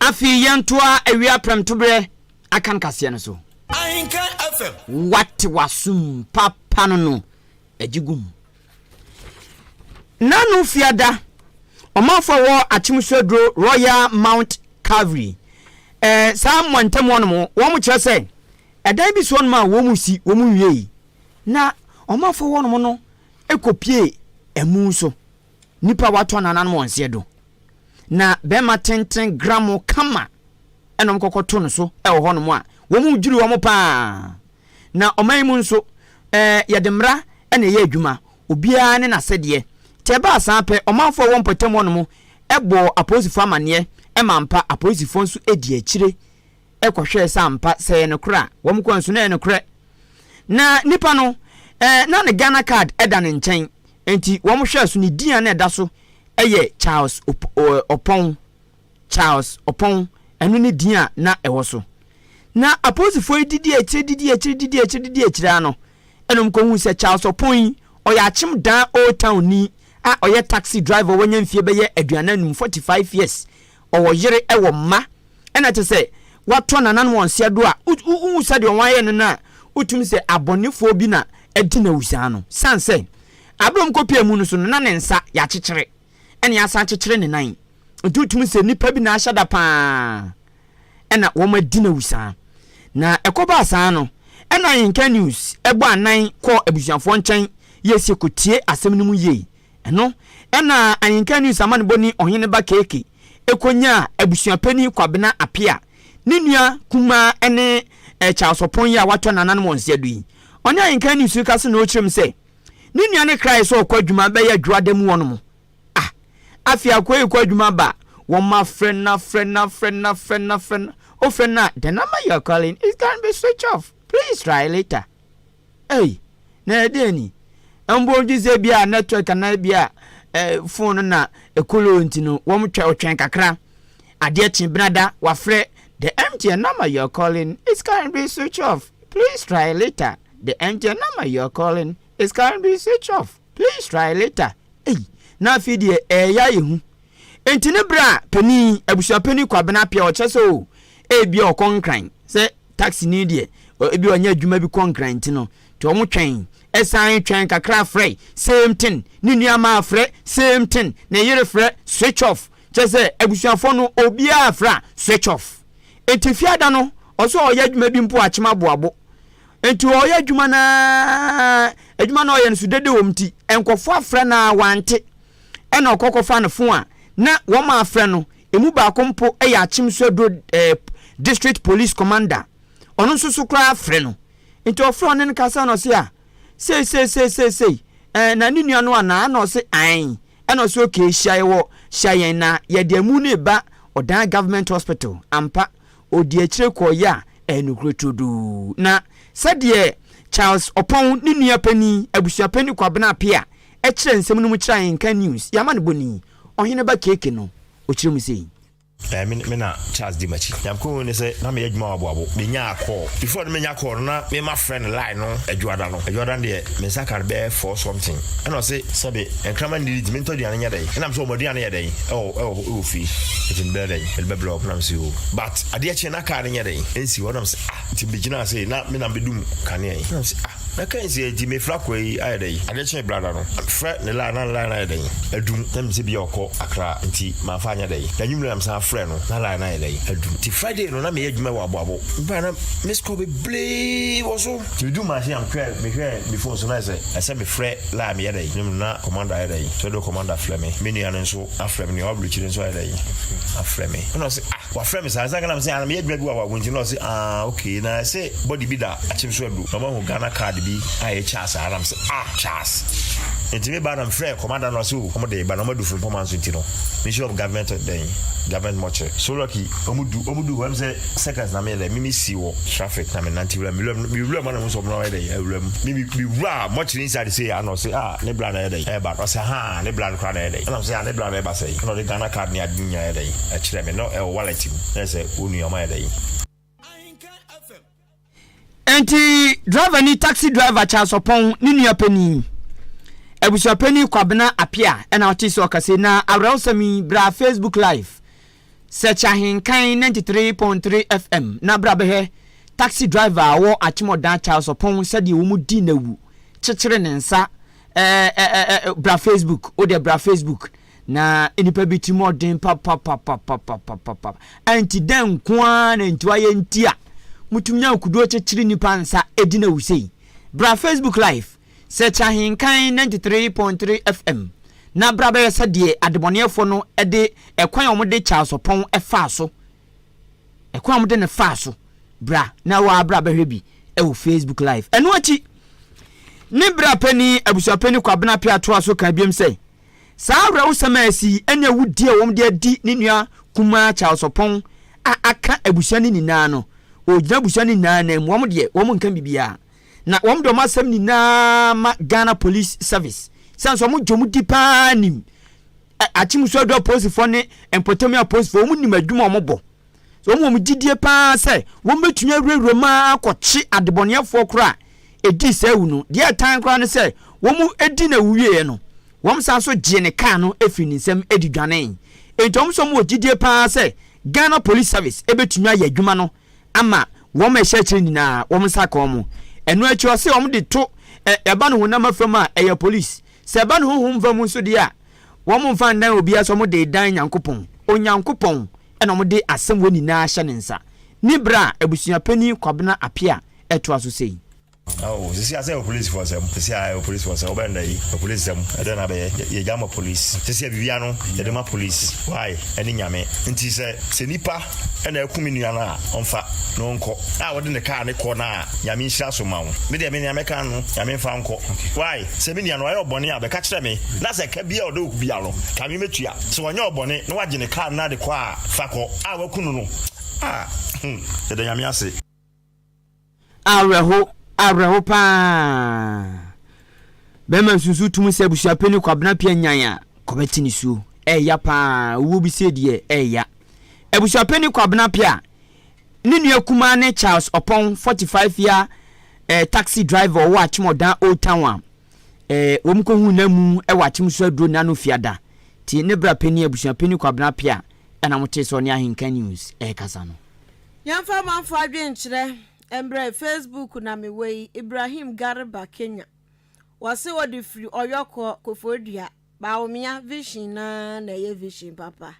Afei yɛntoa awia prɛmtoberɛ akan kaseɛ no so. Ahenkan FM. Wate w'asom papa no no agye gum. Nano Fiada, ɔmanfo a wɔwɔ Akyemsu aduro Royal Mount Calvary, eh, saa mmɔntam hɔnom, wɔn kyerɛ sɛ ɛdan bi si hɔnom a wɔn mu si, wɔn nwiei, na ɔmanfo hɔnom no kɔpie ɛmu nso. Nyimpa wɔato anananom wɔ nseɛ do, na bɛrima tsentsen gramo kama na wɔkɔkɔto no so wɔ hɔnom a, hɔn dwiriw hɔn paa. Na ɔman yi mu nso, yɛdze mbra na ɛyɛ edwuma, obiara ne n'asɛdeɛ. Tse ebiasa pɛ, ɔmanfoɔ a wɔwɔ mpɔtam hɔnom bɔɔ apolisifoɔ amaneɛ ma ampa, apolisifoɔ nso dii akyire kɔhwɛɛ sɛ ampa sɛ ɛyɛ nokorɛ a, wɔn kɔɛ nso na ɛyɛ nokorɛ. Na nipa no, na ne Ghana card da ne nkyɛn, Enti wɔhwɛɛ so, ne din a na ɛda so yɛ Charles Opɔn, Charles Opɔn, ɛno ne din a na ɛwɔ so. Na apolisifoɔ yi didi akyire, didi akyire, didi akyire, didi akyire ara no, ɛna wɔkɔhuu sɛ Charles Opɔn yi, ɔyɛ akyem dan Old Town ni a ɔyɛ taxi driver, wanya mfeɛ bɛyɛ aduanan num, forty five years, Ɔwɔ yere, ɛwɔ mma. Ɛna te sɛ watɔ nananom wɔn se ado a, wohu sɛdeɛ wɔn ayɛ no no a, wotumi sɛ abɔnefoɔ bi na adi no awu saa no. Sane sɛ, aberɛ a wɔkɔ pie amu no so no, na ne nsa yɛakyekyere, ɛna yɛasan akyekyere ne nan. Nti wotumi sɛ nnipa bi na ahyɛ da pa ara, ɛna wɔn adi no awu saa. Na ɛkɔ baa saa no, ɛna Yinka News bɔ anan kɔɔ abusuafoɔ nkyɛn, yɛsie kɔtie asɛm no mu yie, Ɛno na Anyinka News amanebɔ ni Ɔhene Ba Keke konyaa abusuapanin Kwabena Apea, ne nua kumaa ne Charles Ɔpon yi a watɔ nananom wɔ Nseadu yi. Ɔne Anyinka News rekasa na ɔrekyerɛ mu sɛ, ne nua no krae sɛ ɔkɔ adwuma bɛyɛ Adwoada mu hɔnom. Ah! Afei akoa yi kɔ adwuma ba a, wɔafrɛ no afrɛ no afrɛ no afrɛ no afrɛ no, wofrɛ no a, the number you are calling is currently switched off, please try later. Ei, na ɛyɛ dɛn ni? Mpo wogye sɛ ebia network anaa ebia eh, phone no na ɛkoloo nti no, wɔn twɛ ɔtwɛn kakra. Adeɛ kye benada, wafrɛ, The MTN number you're calling is currently switch off. Please try later. The MTN number you're calling is currently switch off. Please try later ei na afei deɛ ɛɛyɛ ayɛ hu Enti ne berɛ a panin yi, abusuapanin Kwabena Appiah ɔkyerɛ sɛ oo ebia ɔkɔ Nkran sɛ taxi ni deɛ ebia ɔnyɛ adwuma bi kɔ Nkran nti no nti wɔn twɛn ɛsan twɛn kakra frɛ same thing ne nua maa frɛ same thing ne yere frɛ switch off kyerɛ sɛ abusuafoɔ no obiara frɛ a switch off Enti fiada no ɔsɛ ɔyɛ adwuma bi mpo a kyema boabo Enti ɔyɛ adwuma no ara, adwuma no a ɔyɛ no so dede wɔ mu nti, nkurɔfoɔ afrɛ no ara wante. Ɛnna ɔkɔ kɔfa ne fon a na wɔafrɛ no, ɛmu baako mpo yɛ Akyem so aduro eh, District Police Commander, ɔno nso so koraa frɛ no. Enti ɔfrɛ ɔne no kasa na ɔse a, sei sei sei sei sei, eh, na ne nua no anaa? Ɛnna ɔse ae. Ɛnna ɔse okay, hyia yɛn wɔ, hyia yɛn na yɛde amu no reba Ɔdan Government Hospital. Ampa. ɔdi akyire kɔɔ yɛ a ɛyɛ nokorɛ turodoo. Na sɛdeɛ Charles Ɔpɔn ne nua panin, Abusuapanin Kwabena Apea, kyerɛ nsɛm no mu kyerɛ Ahenka News, yɛn amanebɔ ni, Ɔhene ba Keke no, ɔkyerɛ mu sei. Ɛɛ, me me na Charles di m'akyi. Nea mekɔhui ne sɛ na meyɛ adwuma wɔ Aboabo. Menyaa call. Before no menya call no, na me mafrɛ no line no Adwoada no. Adwoada no deɛ, me nsa ka no bɛyɛ four something. Ɛna ɔse, sɛbe nkraman nnidi nti mentɔ aduane nyɛ dɛn? Ɛnam sɛ wɔn aduane yɛ dɛn wɔ hɔ? Ewɔ fie eti mebɛyɛ dɛn mede bɛbrɛ ɔbena no se o but adeɛ kye na kaa no nyɛ dɛn ɛnsi hɔ nam se ah nti megyinaa sei na me nam bɛdum kanea yi nam se ah na kaa nsi eti mefra kɔ yi ayɛ dɛn adeɛ kye brada no frɛ ne line na ne line no ayɛ dɛn adum na menim sɛ bia ɔkɔ akra nti mamfa anyɛ dɛn na nwumere nam san frɛ no na line no ayɛ dɛn adum nti Friday no na meyɛ adwuma wɔ aboabo baa na miss call bebree wɔ so nti medu machine am hwɛ mehwɛ me phone so na ɛsɛ ɛsɛ mefrɛ line meyɛ dɛn ne mu na commander ayɛ dɛn sɛ do commander frɛ me me nua no nso Afrɛ me ne w'aburokyire nso ayɛ dɛn afrɛ me ɛna ɔse ah wafrɛ me saa nsanka nam se ana meyɛ adwuma bi wɔ awago nti na ɔse ah ok na ɛsɛ bɔde bi da akyem so adu na ɔmahu Ghana card bi a ɛyɛ Charles a nam se ah Charles nti me ba na mefrɛ kɔmada no ɔse o ɔmo de ba na ɔmo adu firi mpɔma nso nti no Ministry of Government dɛn government mɔkyerɛ so lucky ɔmo du ɔmo du hɔ ɛm sɛ seconds na meyɛ dɛ mimi si wɔ traffic na menante wura mewura mu mewura mu ana mu sɛ ɔmo na ɔyɛ dɛ awura mu mimi mewura mɔkyerɛ inside sɛ ana ɔse ah ne bra na ɛyɛ dɛ ɛba ɔse ha Ah ne bra no koraa na ɛyɛ dɛn? Ɛna mesɛ ah ne bra no ɛba sɛn? Ɛna ɔde Ghana card ne ade nyinaa yɛ dɛn ɛkyerɛ me na ɛwɔ wallet mu na ɛsɛ wo nua ɔma yɛ dɛn? Enti driver ni taxi driver Charles Ɔpɔn ne nua panin abusuapanin Kwabena Apia ɛna ɔte sɛ ɔkasa na awerɛhosɛm yi bra Facebook live Search Ahenkan ninety three point three FM na bra bɛhwɛ taxi driver a ɔwɔ Akyemɔdan Charles Ɔpɔn sɛdeɛ wɔn di no awu kyekyere ne nsa ɛɛɛɛɛ bra Facebook wo deɛ bra Facebook na nipa bi tirim ɔden papapapapapapapa anti dɛn nko ara na nti wayɛ nti a motumi nya nkuduo kyekyere nipa nsa ɛdi no awu sei bra Facebook live Sɛ kyɛ ahenkan ninety three point three FM na bra bɛyɛ sɛ deɛ adebɔneɛfoɔ no de ɛkwan a wɔde Charles Ɔpɔn faa so, ɛkwan a wɔde no faa so, bra na wo ara bra bɛhwɛ bi wɔ Facebook live. Ɛno akyi, ne bra panin abusuapanin Kwabena Appiah toa so kaa biom sɛ, saa awerɛhosɛm a asi yi ne awudie a wɔde adi ne nua kumaa Charles Ɔpɔn a aka abusua no nyinaa no, ɔgyina abusua no nyinaa nan mu, wɔn deɛ wɔnka biribiara. na wɔn de wɔn asɛm nyinaa ma Ghana Police Service sɛn sɛ wɔn gye wɔn di paa nim Akyemmusu Adwa Apolisifoɔ ne Mpɔtam Apolisifoɔ wɔn nim adwuma wɔn bɔ wɔn wɔn gyidie paa sɛ wɔn bɛtumi awurawura mu akɔkye adebɔneɛfoɔ koraa ɛdii saa awu no deɛ ɛtan koraa no sɛ wɔn ɛdi na awu wieɛ no wɔn san so gyee ne kaa no ɛfiri ne nsam ɛdi dwanee enti wɔn sɛ wɔn wɔ gyidie paa sɛ Ghana Police Service ɛbɛtumi ayɛ adwuma no ama wɔn a ɛhyɛ akyire nyinaa wɔn nsa aka wɔn. Ɛno akyi ɔse wɔn de to ɛ ɛba no honam afam a ɛyɛ police. Sɛ ɛba no honhom fam nso deɛ a wɔn mfa ndan obiara sɛ wɔn de dan Nyankopɔn. Onyankopɔn na wɔn de asɛm wei nyinaa hyɛ ne nsa. Nibra abusua panin Kwabena Appiah toa so sei. Ao sisi asɛ opolisi fɔ sɛm sisi a ɛyɛ opolisi fɔ sɛm ɔbɛn da yi opolisi sɛm ɛdɛ na bɛyɛ yɛ gya ma polisi sisi yɛ bibia no yɛde ma polisi why ɛne nyame nti sɛ sɛ nipa ɛna ɛku mi nua no a ɔnfa na ɔnkɔ a wɔde ne kaa ne kɔ na nyame nhyira so ma wo me deɛ me nea mɛka no nyame nfa nkɔ why sɛ me nua no ɔyɛ ɔbɔne a bɛka kyerɛ me na sɛ ka bia ɔde oku bia no ka me mɛtua sɛ ɔnyɛ ɔbɔne na wagye ne kaa na de kɔ a fa kɔ a waku no no a hmm yɛda nyame ase Awerɛho, awerɛho paa. Bɛrima nsusu tum sɛ abusua panyin Kwabena Appiah nyan a, kɔbɛte ne suo. Ɛɛya paa, owuo bi sei deɛ ɛɛya. Abusua panyin Kwabena Appiah, ne nua kumaa ne Charles Ɔpɔn, 45 year eh, taxi driver ɔwɔ Akyem Ɔdan Old Town a, eh, wɔn kɔhu no amu wɔ Akyem so aduro nna no fiada. Ti ne bra panyin abusua panyin Kwabena Appiah ɛna motee sɛ ɔne Ahenka News ɛɛkasa no. Yɛmfa amanfoɔ adwenkyerɛ mbrɛ Facebook na me wei Ibrahim Garba Kenya wɔse ɔde firi Ɔyɔ kɔ Koforidua Bawumia vision no ara na ɛyɛ vision papa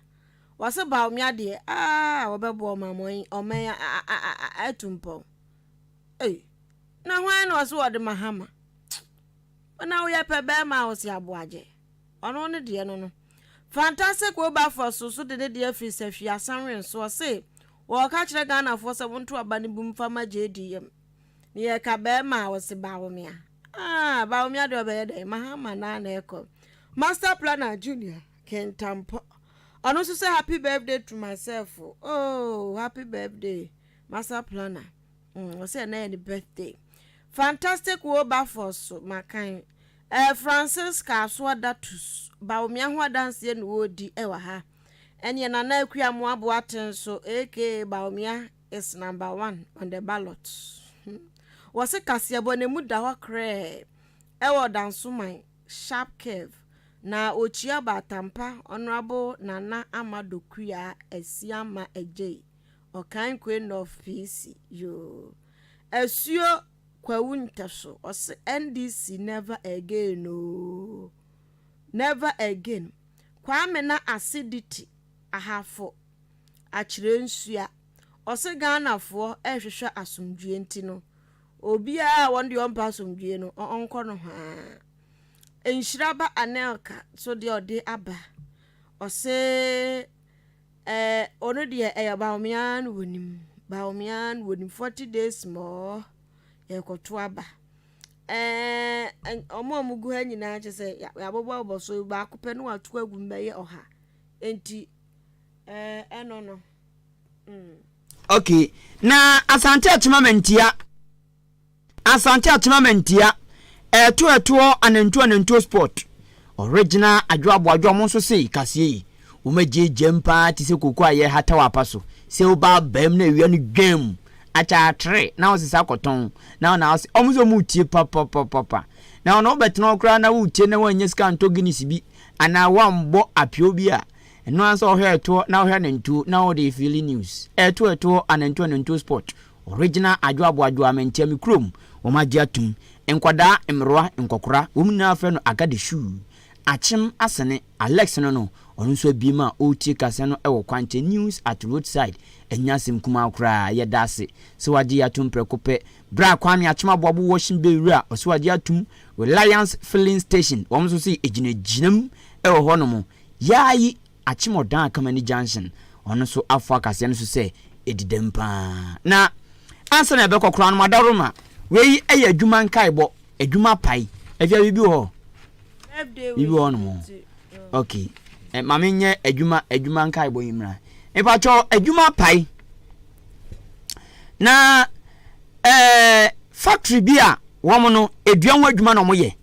wɔse Bawumia deɛ aah wɔbɛboa ɔmanmɔn ɔman atu mpɔn ei na hwan na ɔse wɔde Mahama Tch wo na woyɛ pɛ bɛɛma a ɔse aboagye. Ɔno ne deɛ no no. Fantastic Wilberforce nso de ne deɛ afiri Sahwi Asanweren so. Ɔse, Wɔɔka kyerɛ Ghanafoɔ sɛ wonto aba no bi mfa ma JD yam. Ne yɛka bɛɛma a, ɔse Bawomia. Ah, Bawomia deɛ ɔbɛyɛ dɛn? Mahama no ara na ɛrekɔ. Master Planner Junior Kintampɔ. Ɔno nso sɛ Happy Birthday to myself. Oh, Happy Birthday, Master Planner. Mm, ɔsɛ yɛ na yɛ ne birthday. Fantastic Wilberforce so makan. Ɛɛ Francisca Asoa Datus Bawumia ho adanseɛ na wɔredi wɔ ha. Ɛneɛ Nana Akua Amoa Boateng so aka Bawumia is number one on the ballot. Hmm. Wɔse kaseɛbɔ na mu da hɔ krɛɛ ɛwɔ Dansoman sharp curve na ɔkyia Baatampa Honourable Nana Amado Kuyaa Asiamah Adjei Ɔkankoe North PC, yoo. Asuo Kwawu Ntaso ɔse NDC never again oo. Never again. Kwame na Acidity Ahafo akyerɛ nsua. Ɔse Ghana foɔ ɛhwehwɛ asomdwie nti no obiaa a wɔn deɛ ɔmpɛ asomdwie no ɔnkɔ nohoaa. Nhyiraba Anelka nso deɛ ɔde aba ɔse. Ɛɛ ɔno deɛ ɛyɛ baomea ara na wɔnim baomea ara na wɔnim forty days mɔɔ yɛrekɔto aba ɛɛ wɔn a wɔgu ha nyinaa kyɛ sɛ yɛabobɔbobɔ so baako pɛ na wato agu mu bɛyɛ ɔha nti ɛɛ ɛno no. Mm. okay na asante atoma mantia. Asante atena mantia ɛɛto ɛtoɔ anantuo anantuo spot ɔregina adwo aboadwo ɔmo nso se kaseɛ yi ɔmo agye gyam paa te sɛ koko a yɛ hata wɔ apa so sɛ woba abam na awia no dwam akyɛ atere na wo sesa kɔtɔn na wo na wo se ɔmo se ɔmo tie papapapapa na wo na wo bɛtena hɔ koraa na wo tie na wɔanya sika ntɔ guinness bi anaa wɔambɔ apio bi a ɛno ansa ɔhwɛ ɛtoɔ na ɔhwɛ anantuo na ɔde fili news ɛɛto ɛtoɔ anantuo anantuo spot Ɔregyina adwo aboadwoa me nteɛ me kurom wɔn agye atum nkwadaa mmerewa nkɔkora wɔn nyinaa frɛ no agade shuu akyem asene Alex no no ɔno nso abiem a ɔretie kaseɛ no wɔ kwankyɛn news at roadside ɛnyɛ asɛm kumaa koraa yɛda ase sɛ wagye yɛ atom prɛko pɛ berɛ a Kwame akyem aboabo washing bay wura ɔse wagye atom Reliance filling station wɔn nso se ɛgyinagyinam wɔ hɔ nom yaayi Akyem ɔdan Akamani Junction, ɔno nso afɔ akaseɛ no so sɛ ɛdi dɛm pa ara. Na ansa na yɛbɛkɔ koraa no, Madaroma, wei yɛ adwuma nkaebɔ, adwuma pae. Afia, biribi wɔ hɔ? Birthday wish Biribi wɔ hɔ nti. Ok. Eh, ma menyɛ adwuma, adwuma nkaebɔ yi mmra. Mepakyɛw, adwuma pae. Na eh, factory bi a wɔn no, dua ho adwuma na wɔyɛ.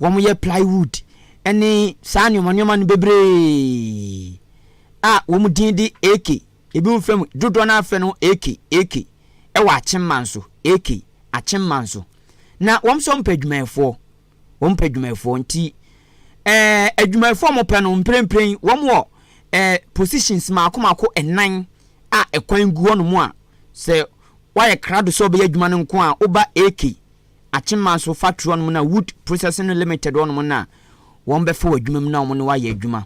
wɔyɛ plywood ne saa nnoɔma nnoɔma no bebree a wɔn din de AK, ebi mo fɛ mu, dodoɔ no ara fɛ no AK, AK, ɛwɔ akyemma nso, AK, akyemma nso. Na wɔn nso wɔpɛ adwumayɛfoɔ, wɔn pɛ adwumayɛfoɔ nti ɛɛ adwumayɛfoɔ a wɔpɛ no mprempren wɔn wɔ ɛɛ positions mako mako ɛnan a ɛkwan gu hɔnom a sɛ wɔayɛ krado sɛ wɔbɛyɛ adwuma no nko a woba AK Akyemaso factory hɔ nom na wood processing limited hɔ nom na wɔn bɛfa wɔ adwuma mu na wɔn ne wayɛ adwuma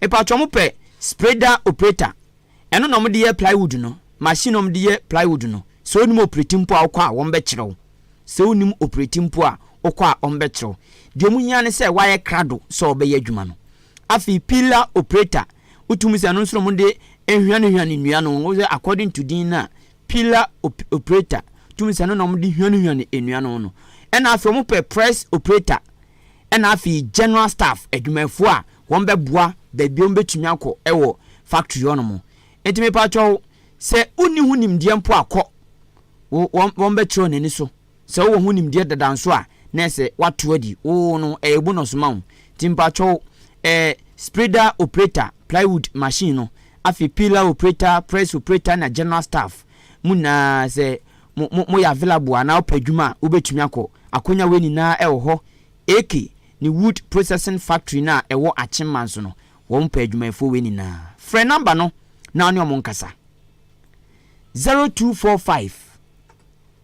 mpakyɛ wɔn pɛ spreader operator ɛno na wɔn de yɛ plywood no machine na wɔn de yɛ plywood no sɛ onim operate mpo a wokɔ a wɔn bɛkyerɛ wo sɛ onim operate mpo a wokɔ a wɔn bɛkyerɛ wo deɛ wɔn hia ne sɛ wayɛ krado sɛ ɔbɛyɛ adwuma no afei pillar operator wotumi sɛ ɛno nso na wɔn de ehwiane hwiane nnua no wɔn sɛ according to din na pillar operator tumi sɛ ɛno na wɔde hwanehwane nnua no no ɛna afei wɔn pɛ press operator ɛna afei general staff adwumayɛfoɔ a wɔn bɛboa baabi wɔn bɛtumi akɔ ɛwɔ factory hɔ nom ɛti mepatwɔ sɛ wonni ho nimdeɛ mpo akɔ wɔn bɛkyerɛ wɔn ani so Sɛ wowɔ ho nimdeɛ dada nso a na ɛsɛ wato adi oo no ɛyɛ bonus ma wo nti mpakyɛw ɛɛ spreader operator plywood machine no afei peeler operator press operator na general staff mo nyinaa sɛ mo mo moyɛ available a anaa wopɛ adwuma a wobɛtumi akɔ akonya wei nyinaa ɛwɔ hɔ AK ne wood processing factory no a ɛwɔ akyemma nso no wɔn pɛ adwumayɛfoɔ wei nyinaa frɛ number no na wo ne wɔn nkasa zero two four five.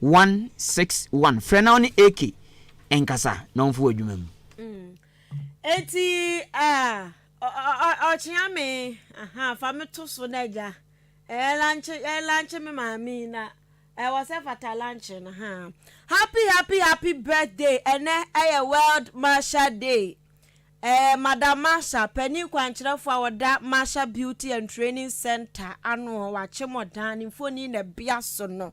One six one frɛ na ɔne AK nkasa na ɔmfa wo adwuma mu. Mm. Eti ah ɔkyea me aha fa me to so na agya ɛyɛ lanche ɛyɛ lanche me maame na ɛwɔ sɛ fata lanche no ha. Happy happy happy birthday ɛnɛ ɛyɛ world masha day. Eh, Madam Masha, panin kwankyerɛfo a wɔda Masha Beauty and Training Center ano hɔ wakye mo dan ne mfoni na bia so no.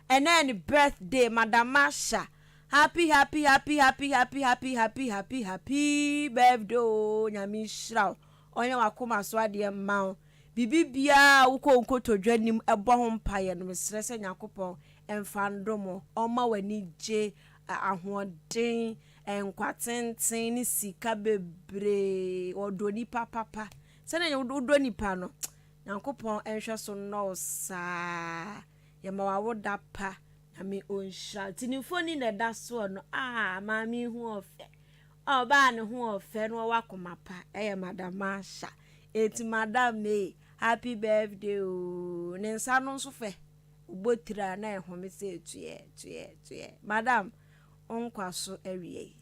ɛnɛ yɛ ne birthday madam Masha happy happy happy happy happy happy happy happy happy birthday oo nyame nhyira wo ɔnyɛ wakoma so adeɛ mma wo bibi biaa wokɔ nkotodwa nim ɛbɔ ho mpaeɛ no mesrɛ sɛ nyakopɔn ɛmfa ndomo ɔma w'ani gye ahoɔden nkwa tenten ne sika bebree ɔdɔ nipa papa sɛdeɛ wodɔ nipa no nyankopɔn ɛnhwɛ so nnɔ wo saa Yɛma wo awoda pa. Nyame ɔnhyira wo. Nti ne mfoni na ɛda soɔ no. Aah maame yi ho ɔfɛ. Ɔbaa no ho ɔfɛ na ɔwɔ akoma pa. Ɛyɛ Madam Marsha. Nti Madam May, happy birthday oo. Ne nsa no nso fɛ. Ɔbɔ tiri a na ɛhome sɛ tuɛɛ, tuɛɛ, tuɛɛ. Madam, wo nkwaso awiei.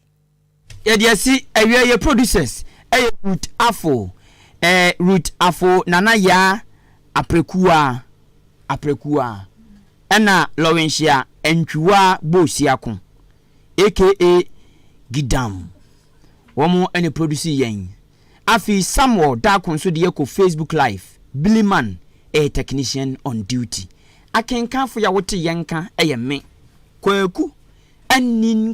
Yɛde asi awia yɛ producers ɛyɛ Ruth Afo ɛɛ Ruth Afo Nana Yaa Aprɛkuwaa Aprɛkuwaa ɛna Lɔwenhyia Antwiwaa Boosiako aka Gidam wɔn ɛna produce yɛn afei Samuel Darko nso deɛ kɔ Facebook live Biliman ɛyɛ technician on duty akenkanfo yɛ a wote yɛn nka ɛyɛ me Kwaku Anin